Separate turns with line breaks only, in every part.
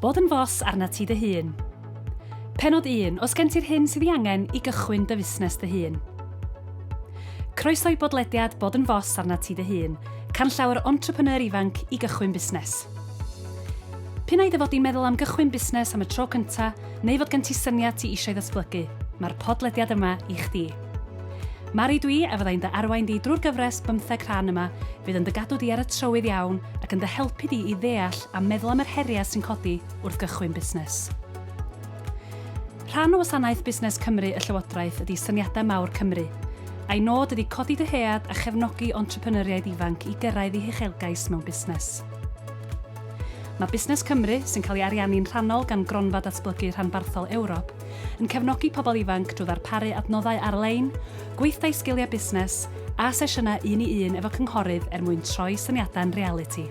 Bod yn fos arnat ti dy hun. Pennod 1, Os gen ti'r hyn sydd ei angen i gychwyn dy fusnes dy hun. Croeso i bodlediad Bod yn fos arnat ti dy hun, canllaw yr entrepreneur ifanc i gychwyn busnes. P'un ai dy fod di'n meddwl am gychwyn busnes am y tro cyntaf neu fod gen ti syniad ti eisiau ddatblygu, mae'r podlediad yma i chdi. Mari dw i a fyddai'n dy arwain di drwy'r gyfres bymtheg rhan yma, fydd yn dy gadw di ar y trywydd iawn ac yn dy helpu di i ddeall a meddwl am yr heriau sy'n codi wrth gychwyn busnes. Rhan o wasanaeth Busnes Cymru y Llywodraeth ydi Syniadau Mawr Cymru. A'i nod ydi codi dyhead a chefnogi entrepreneuriaid ifanc i gyrraedd eu huchelgais mewn busnes. Mae Busnes Cymru, sy'n cael ei ariannu'n rhannol gan Gronfa Datblygu Rhanbarthol Ewrop, yn cefnogi pobl ifanc drwy ddarparu adnoddau ar-lein, gweithdai sgiliau busnes, a sesiynau un-i-un efo cynghorydd er mwyn troi syniadau'n realiti.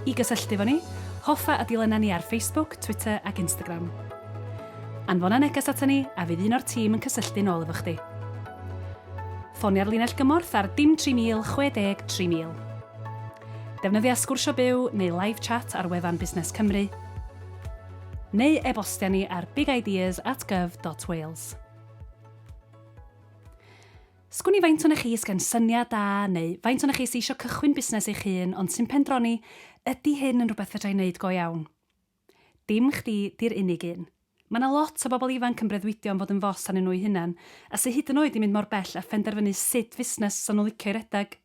I gysylltu efo ni, hoffa a dilyna ni ar Facebook, Twitter ac Instagram. Anfona neges ata ni a fydd un o'r tîm yn cysylltu'n ôl efo chdi. Ffonia'r linell gymorth ar dim 3000 60 3000. Defnyddia Sgwrsio Byw neu Live Chat ar wefan Busnes Cymru. neu e-bostia ni ar bigideas at gov dot wales. Sgwn i faint o'n chi sydd gen syniad da neu faint o'n chi sydd eisiau cychwyn busnes eich hun ond sy'n pendroni ydy hyn yn rhywbeth fedra i wneud go iawn? Dim chdi di'r unig un. Mae yna lot o bobl ifanc yn breuddwydio am fod yn fos arnyn nhw'u hunain a sy hyd yn oed 'di mynd mor bell â phenderfynu sut fusnes fysa nhw'n licio'i redeg.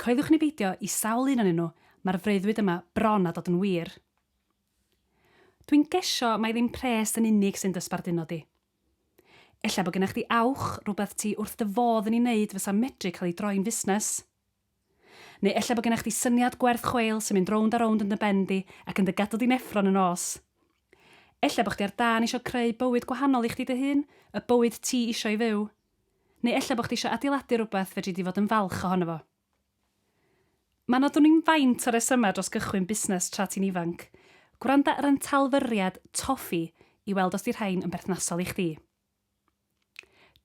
Coeliwch ni beidio, i sawl un onyn nhw, mae'r freuddwyd yma bron â dod yn wir. Dwi'n gesio mai ddim pres yn unig sy'n dy sbarduno di. Ella bod gennych chdi awch, rhywbeth ti wrth dy fodd yn ei wneud fysa medru cael ei droi'n fusnes. Neu ella bod gennych chdi syniad gwerth chweil sy'n mynd rownd a rownd yn dy ben di ac yn dy gadw di'n effro yn y nos. Ella bod chdi ar dân eisiau creu bywyd gwahanol i chdi dy hun, y bywyd ti eisiau ei fyw. Neu ella bod chdi eisiau adeiladu rhywbeth fedri di fod yn falch ohono fo. Mae yna dw'n i'n faint o resymau dros gychwyn busnes tra ti'n ifanc. Gwranda ar ein talfyriad Tofi i weld os 'di rhain yn berthnasol i chdi.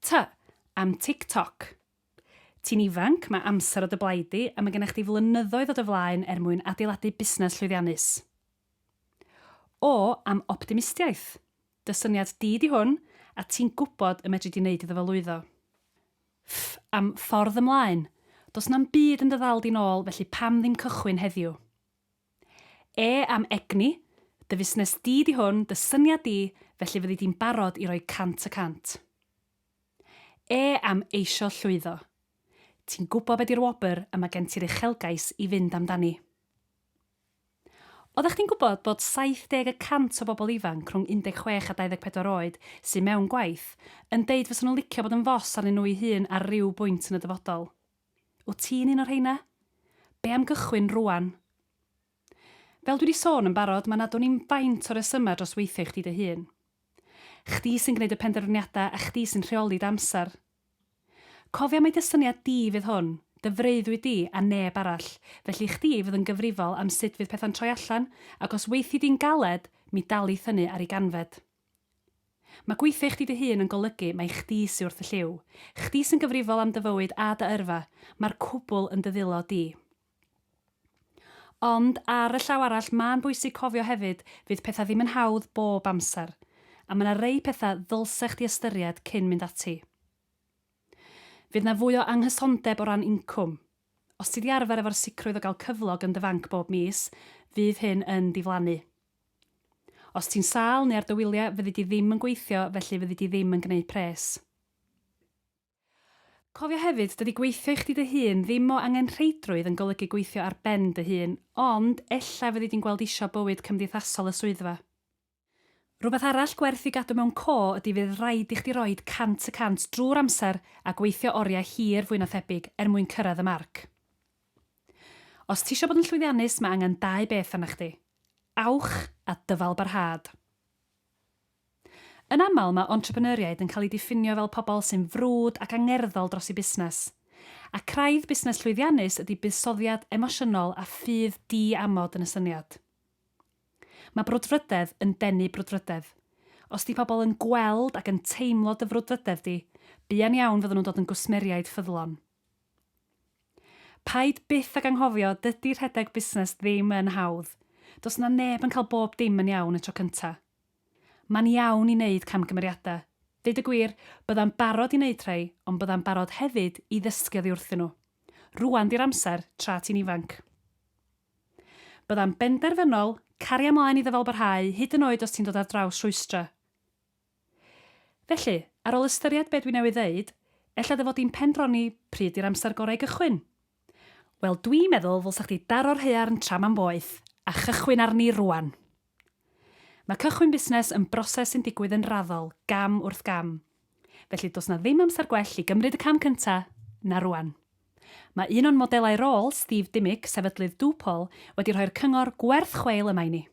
T, Am Tik Tok. Ti'n ifanc, mae amser o dy blaid di a mae gennych chdi flynyddoedd o dy flaen er mwyn adeiladu busnes llwyddiannus. O, Am Optimistiaeth. Dy syniad di 'di hwn a ti'n gwybod y medri di 'neud iddo fo lwyddo. Ff, am ffordd ymlaen. Does na'm byd yn dy ddal di nôl felly pam ddim cychwyn heddiw? E, am egni, Dy fusnes di 'di hwn, dy syniad di, felly fyddi di'n barod i roi cant y cant. E, am eisio llwyddo. Ti'n gwbo be di'r wobr a ma' gen ti'r uchelgais i fynd amdani. Oeddech chdi'n gwybod bod 70 y cant o bobl ifanc rhwng 16 a 24 oed sydd mewn gwaith yn deud fysen nhw'n licio bod yn fos arnyn nhw'u hun ar ryw bwynt yn y dyfodol? Wyt ti'n un o'r rheina? Be am gychwyn rŵan? Fel dwi 'di sôn yn barod, mae 'na dwn i'm faint o resymau dros weithio i chdi dy hun. Chdi sy'n gwneud y penderfyniadau a chdi sy'n rheoli dy amser. Cofia mai dy syniad di fydd hwn, dy freuddwyd di a neb arall, felly chdi fydd yn gyfrifol am sut fydd pethau'n troi allan ac os weithi di'n galed, mi dal i thynnu ar ei ganfed. Mae gweithio i chdi dy hun yn golygu mai chdi sy wrth y lliw, chdi sy'n gyfrifol am dy fywyd a dy yrfa, mae'r cwbl yn dy ddillo di. Ond, ar y llaw arall, ma'n bwysig cofio hefyd, fydd petha ddim yn hawdd bob amser, a ma' 'na rei petha ddylse chdi ystyried cyn mynd ati. Fydd 'na fwy o anghysondeb o ran incwm. Os ti 'di arfer efo'r sicrwydd o gael cyflog yn dy fanc bob mis, fydd hyn yn diflannu. Os ti'n sâl neu ar dy wyliau, fyddi di ddim yn gweithio, felly fyddi di ddim yn gneud pres. Cofia hefyd, dydi gweithio i chdi dy hun ddim o angenrheidrwydd yn golygu gweithio ar ben dy hun, ond ella fyddi di'n gweld isio bywyd cymdeithasol y swyddfa. Rhywbeth arall gwerth i gadw mewn co ydi fydd raid i chdi roid cant y cant drwy'r amser a gweithio oriau hir fwy na thebyg er mwyn cyrraedd y marc. Os tisio bod yn llwyddiannus mae angen dau beth arna chdi, awch a dyfalbarhad. Yn aml, mae entrepreneuriaid yn cael eu diffinio fel pobl sy'n frwd ac angerddol dros eu busnes. A craidd busnes llwyddiannus ydy buddsoddiad emosiynol a ffydd di-amod yn y syniad. Mae brwdfrydedd yn denu brwdfrydedd. Os 'di pobl yn gweld ac yn teimlo dy frwdfrydedd di, buan iawn fyddan nhw'n dod yn gwsmeriaid ffyddlon. Paid byth ag anghofio, dydy rhedeg busnes ddim yn hawdd. Does 'na neb yn cael bob dim yn iawn y tro cynta. Mae'n iawn i wneud camgymeriadau. Deud y gwir, byddai'n barod i wneud rhai, ond byddai'n barod hefyd i ddysgu oddi wrthyn nhw. Rŵan 'di'r amser, tra ti'n ifanc. Byddai'n benderfynol, caria mlaen i ddyfalbarhau, hyd yn oed os ti'n dod ar draws rhwystrau. Felly, ar ôl ystyried be dwi newydd ddeud, ella dy fod di'n pendroni pryd 'di'r amser gorau i gychwyn? Wel, dwi'n meddwl ddylsa chdi daro'r haearn tra mae'n boeth, a chychwyn arni rŵan! Mae cychwyn busnes yn broses sy'n digwydd yn raddol, gam wrth gam. Felly does 'na ddim amser gwell i gymryd y cam cynta' na rŵan. Mae un o'n modelau rôl, Steve Dimmick, sefydlydd Dupol, wedi rhoi'r cyngor gwerth chweil yma i ni.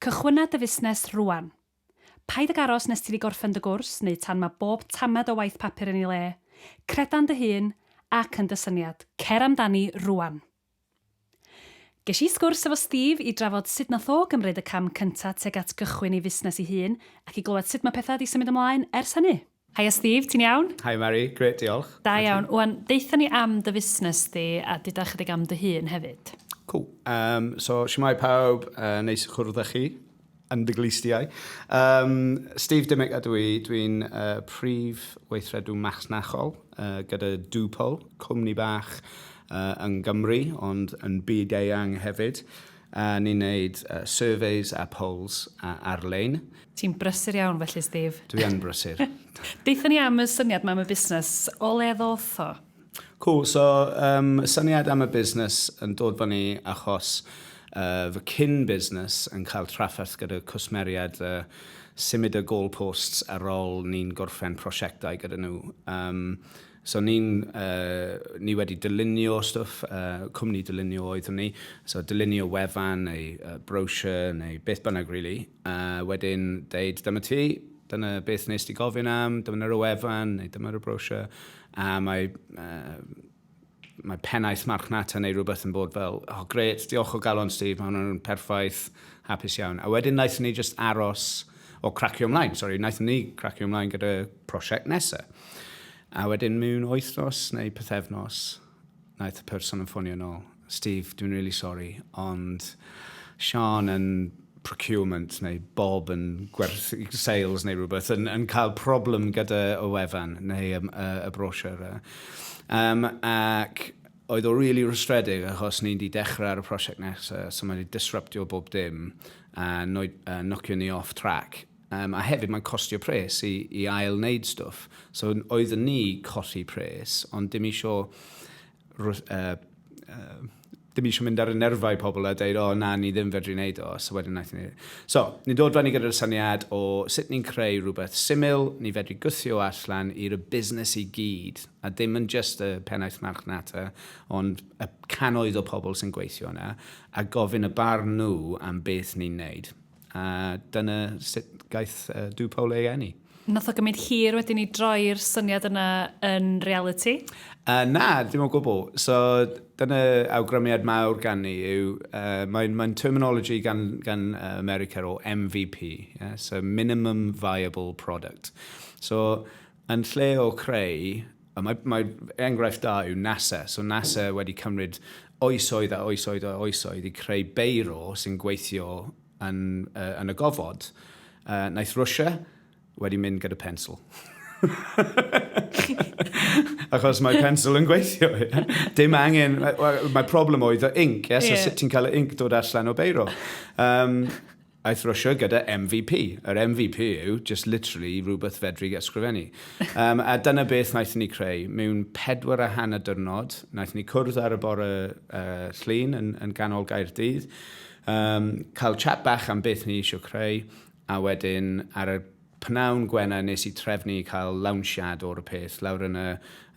Cychwynna dy fusnes rŵan. Paid ag aros nes ti 'di gorffen dy gwrs neu tan mae bob tamed o waith papur yn ei le. Creda yn dy hun ac yn dy syniad. Cer amdani rŵan. Ges i sgwrs efo Steve i drafod sut nath o gymryd y cam cynta tuag at gychwyn ei fusnes ei hun, ac i glywed sut ma' petha 'di symud ymlaen ers hynny. Haia Steve, ti'n iawn? Hi Mari, grêt diolch. Da iawn. Wan, deutha ni am dy fusnes di a duda chydig am dy hun hefyd. Cŵl. Yym, so shwmae pawb, yy neis i chwrdd â chi. yn dy glustiau. Um, Steve Dimmick a dwi, dwi'n uh, prif weithredw masnachol uh, gyda Dupo, cwmni bach uh, yn Gymru, ond yn byd eang hefyd. Uh, ni'n neud uh, surveys a polls uh, ar-lein. Ti'n brysur iawn felly, Steve. Dwi yn brysur. Deitha ni am y syniad mae am y busnes, o le ddoth o? Cool, so um, y syniad am y busnes yn dod fan ni achos uh, fy cyn busnes yn cael trafferth gyda cwsmeriad uh, symud y goalposts ar ôl ni'n gorffen prosiectau gyda nhw. Um, So ni'n uh, ni wedi dylunio stwff, uh, cwmni dylunio oeddwn ni, so dylunio wefan neu uh, brochure neu beth bynnag really, A wedyn deud, dyma ti, dyna beth nes ti gofyn am, dyma nhw'r wefan, neu dyma'r brochure, a mae, uh, mae pennaeth marchnata neu rhywbeth yn bod fel, oh gret, diolch o galon Steve, mae hwnna'n perffaith, hapus iawn. A wedyn naeth ni just aros o cracio ymlaen, sori, naeth ni cracio ymlaen gyda prosiect nesaf. A wedyn mewn wythnos neu pethefnos, Wnaeth y person yn ffonio yn ôl. Steve, dwi'n really sorry, ond Sian yn procurement neu Bob yn gwerth sales neu rhywbeth yn, yn cael problem gyda y wefan neu y, y, y brochure. Um, ac oedd o really rwystredig achos ni'n di dechrau ar y prosiect nesaf, so mae wedi disruptio bob dim a, noi, a nocio ni off track. Yym, a hefyd mae'n costio pres i, i ail wneud stwff. So oeddwn ni colli pres, ond dim isio... rw- Uh, uh, dim eisiau mynd ar y nerfau pobl a dweud, o oh, na, ni ddim fedru wneud o, so wedyn naeth ni... So, ni'n dod fan i gyda'r syniad o sut ni'n creu rhywbeth syml, ni fedru gwthio allan i'r busnes i gyd, a dim yn just y pennaeth marchnata, ond y canoedd o pobl sy'n gweithio yna, a gofyn y barn nhw am beth ni'n wneud. A dyna sut gaeth uh, Dw Paul ei enni. Nath o gymryd hir wedyn i droi'r syniad yna yn reality? Uh, na, dim o gwbl. So, dyna awgrymiad mawr gan ni yw, uh, mae'n mae terminology gan, gan uh, America o MVP, yeah? so minimum viable product. So, Yn lle o creu, a mae, mae enghraifft da yw NASA. So NASA wedi cymryd oesoedd a oesoedd a oesoedd i creu beiro sy'n gweithio yn, uh, yn y gofod. Uh, naeth Rwysia wedi mynd gyda pensl. Achos mae pensl yn gweithio. Dim angen... Mae, mae problem oedd y inc, yes? Yeah. So sut ti'n cael y inc dod allan o beiro. Um, Aeth Russia gyda MVP. Yr MVP yw just literally rhywbeth fedri ysgrifennu. um, a dyna beth wnaethon ni creu. Mewn pedwar a hanner dyrnod, wnaethon ni cwrdd ar y bore uh, llun yn, yn ganol gair dydd, um, cael chat bach am beth ni eisiau creu, a wedyn ar y Pnawn Gwener nes i trefnu cael lawnsiad o'r peth lawr yn y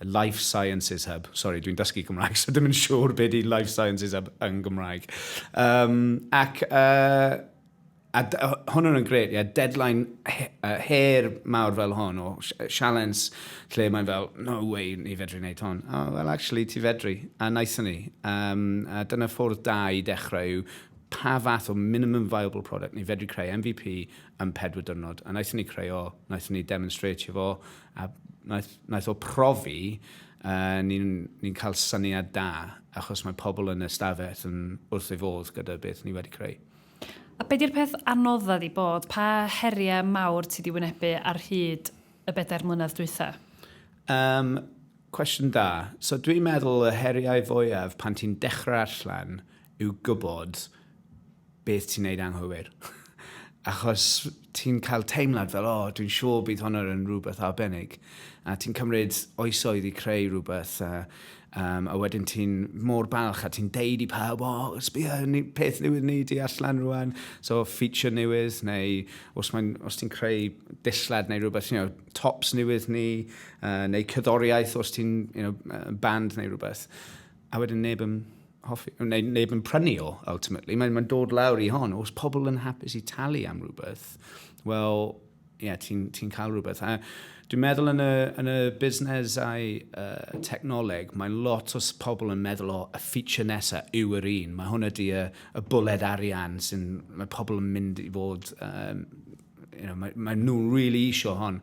Life Sciences Hub. Sori, dwi'n dysgu Cymraeg, so dim yn siŵr be di Life Sciences Hub yn Gymraeg. Um, ac uh, a hwn yn gret, yeah, deadline her mawr fel hwn o sialens lle mae'n fel, no way, ni fedru wneud hwn. Oh, well, actually, ti fedru. A naethon ni. Um, a dyna ffwrdd da i dechrau yw pa fath o minimum viable product ni fedru creu MVP yn pedwar dyrnod. A naethon ni creu o, naethon ni demonstratio fo, a naeth, naeth o profi, uh, ni'n ni cael syniad da, achos mae pobl yn ystafell yn wrth ei fodd gyda beth ni wedi creu. A be di'r peth anodda di bod? Pa heriau mawr ti di wynebu ar hyd y bedair mlynedd dwytha? Um, cwestiwn da. So dwi'n meddwl y heriau fwyaf pan ti'n dechrau allan yw gwybod beth ti'n neud anghywir. Achos ti'n cael teimlad fel, o, dwi'n siŵr bydd hwn yn rhywbeth arbennig. A ti'n cymryd oesoedd i creu rhywbeth, a, um, a wedyn ti'n mor balch a ti'n deud i pawb, o, oh, sbio, peth newydd ni di allan rwan, so feature newydd, neu os, os ti'n creu dillad neu rhywbeth, you know, tops newydd ni, uh, neu cyddoriaeth os ti'n you know, band neu rhywbeth. a wedyn neb yn hoffi, neu neb yn prynu o, ultimately. Mae'n mae dod lawr i hon, os pobl yn hapus i talu am rhywbeth, wel, ie, yeah, ti'n ti cael rhywbeth. A dwi'n meddwl yn y, yn y busnesau uh, technoleg, mae lot o pobl yn meddwl o y feature nesaf yw yr un. Mae hwn ydy y, y bwled arian sy'n, mae pobl yn mynd i fod um, you know, mae, mae nhw really isio hon,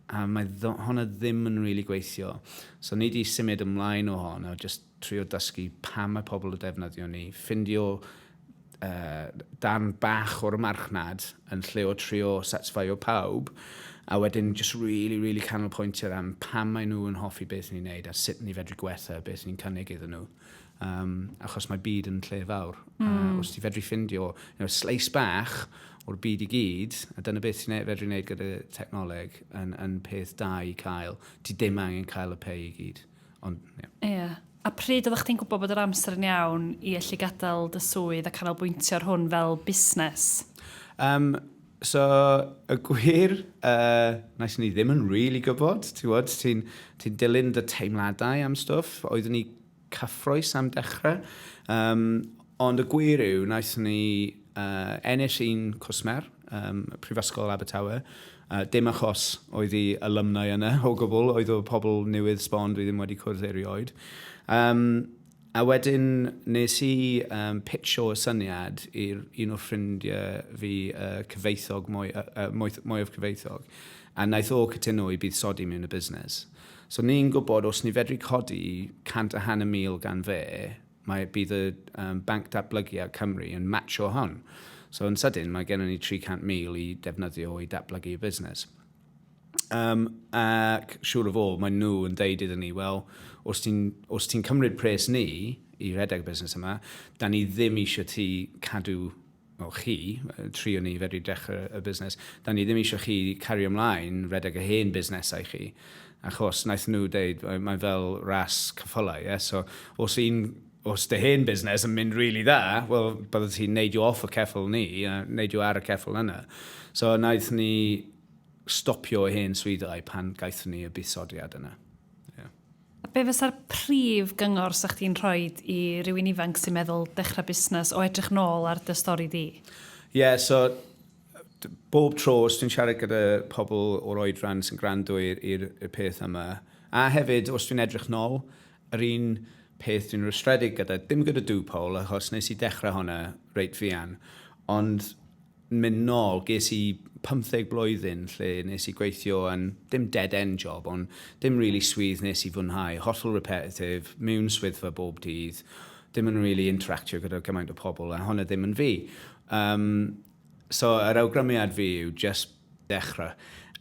a mae hon a ddim yn really gweithio. So ni di symud ymlaen o hon, a just trio dysgu pa mae pobl y defnyddio ni, ffindio uh, dan bach o'r marchnad yn lle o trio satisfio pawb, a wedyn just really, really canolbwyntio am pam maen nhw yn hoffi beth ni'n neud a sut ni fedru gwella beth ni'n cynnig iddyn nhw. Um, achos mae byd yn lle fawr. Mm. Uh, hmm. os ti fedru ffindio you know, sleis bach o'r byd i gyd, a dyna beth ti'n fedru wneud gyda technoleg yn, yn peth da i cael. Ti ddim angen cael y pei i gyd. Ond, ie. Yeah. Yeah. A pryd oeddech chdi'n gwybod bod yr amser yn iawn i allu gadael dy swydd a canolbwyntio ar hwn fel busnes? Um, So, y gwir, uh, nes ni ddim yn really gwybod, ti'n gwybod, ti'n ti dilyn dy teimladau am stwff, oeddwn ni cyffroes am dechrau, um, ond y gwir yw, nes ni uh, ennill un cwsmer, um, Prifysgol Abertawe, uh, dim achos oedd i alumni yna o gwbl, oedd o pobl newydd sbon dwi ddim wedi cwrdd erioed. Um, A wedyn nes i um, pitcho y syniad i'r un o'r ffrindiau fi, uh, cyfeithog, mwy, uh, uh, mwy, mwy of cyfeithog, a naeth o cytuno i bydd sodi mewn y busnes. So ni'n gwybod os ni fedru codi 100 a hanner mil gan fe, mae bydd y um, banc datblygiad Cymru yn matcho hon. So yn sydyn mae gennym ni 300,000 i defnyddio i datblygu y busnes. Um, ac siŵr o fod, maen nhw yn deud iddyn ni, wel, os ti'n ti cymryd pres ni i redeg y busnes yma, da ni ddim eisiau ti cadw o chi, tri o ni fedru dechrau y busnes, da ni ddim eisiau chi cario ymlaen redeg y hen busnesau chi. Achos naeth nhw deud, mae'n fel ras cyffylau, yeah? so os un Os dy hen busnes yn mynd rili dda, wel, byddet ti'n neidio off y ceffyl ni, a neidio ar y ceffyl yna. So, naeth ni stopio y hen swyddau pan gaethon ni y buddsoddiad yna. Yeah. A be fysa'r prif gyngor sa chdi'n rhoi i rywun ifanc sy'n meddwl dechrau busnes o edrych nôl ar dy stori di? Ie, yeah, so bob tro os dwi'n siarad gyda pobl o'r oedran sy'n gwrando i'r peth yma, a hefyd os dwi'n edrych nôl, Yr un peth dwi'n rwystredig gyda, dim gyda Duw Paul achos nes i dechrau hwnna reit fuan, ond mynd nôl, ges i 15 blwyddyn lle nes i gweithio yn, dim dead-end job, ond dim really swydd nes i fwynhau, hollol repetitive, mewn swyddfa bob dydd, dim yn really interactio gyda gymaint o pobl, a hwnna ddim yn fi. Um, So, yr awgrymiad fi yw just dechrau.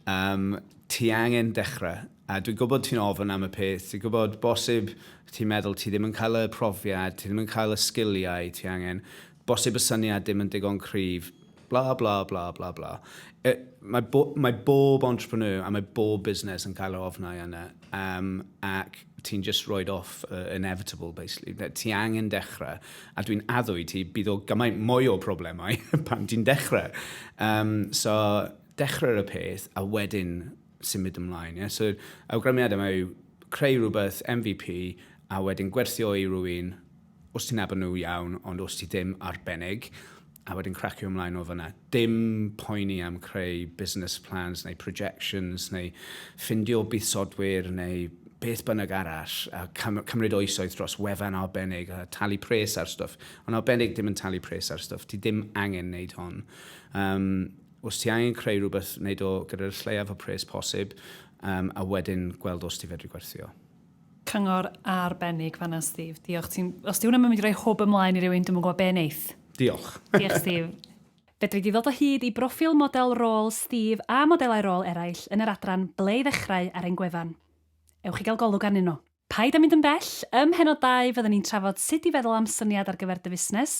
Um, ti angen dechrau. A dwi'n gwybod ti'n ofyn am y peth, ti'n gwybod bosib ti'n meddwl ti ddim yn cael y profiad, ti ddim yn cael y sgiliau ti angen, bosib y syniad ddim yn digon cryf, bla bla bla bla bla. E, mae, bo, mae bob entrepreneur a mae bob busnes yn cael yr ofnau yna. um, ac ti'n just roed off uh, inevitable, basically. Ti angen dechrau, a dwi'n addo i ti, bydd o gymaint mwy o problemau pan ti'n dechrau. Um, so, dechrau y peth, a wedyn symud ymlaen. Yeah? So, awgrymiad yma yw creu rhywbeth, MVP, a wedyn gwerthio i rwy'n Os ti'n nabod nhw, iawn, ond os ti ddim, arbennig, a wedyn cracio ymlaen o fyna. Dim poeni am creu business plans neu projections neu ffindio buddsodwyr neu beth bynnag arall a cym cymryd oesoedd dros wefan arbennig a talu pres ar stwff. Ond arbennig ddim yn talu pres ar stwff, ti ddim angen wneud hon. Um, os ti angen creu rhywbeth, wneud o gyda'r lleiaf o pres posib um, a wedyn gweld os ti fedru gwerthio. Cyngor arbennig fanna, Steve. Diolch. Ti'n... Os di hwnna'n mynd i roi hwb ymlaen i rywun, dwi'n yn gwybod be neith. Diolch. Diolch, Steve. Fedri di ddod o hyd i broffil model rôl Steve a modelau rôl eraill yn yr adran Ble i Ddechrau ar ein gwefan. Ewch i gael golwg arnyn nhw. Paid â mynd yn bell, ym mhennod dau fyddwn ni'n trafod sut i feddwl am syniad ar gyfer dy fusnes,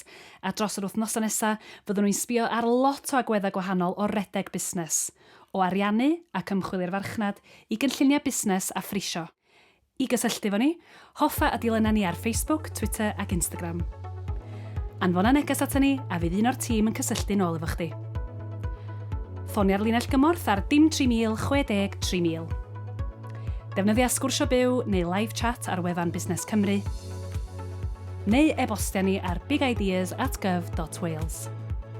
a dros yr wythnosau nesaf fyddwn ni'n sbio ar lot o agweddau gwahanol o redeg busnes. o ariannu ac ymchwil i'r farchnad, i gynlluniau busnes a phrisio. I gysylltu efo ni, hoffa a dilyna ni ar Facebook, Twitter ac Instagram. Anfona neges aton ni a fydd un o'r tîm yn cysylltu'n ôl efo chdi. Ffonia'r linell gymorth ar dim 3000 60 3000. Defnyddia Sgwrsio Byw neu Live Chat ar wefan Busnes Cymru, neu e-bostia ni ar bigideas at gov dot wales.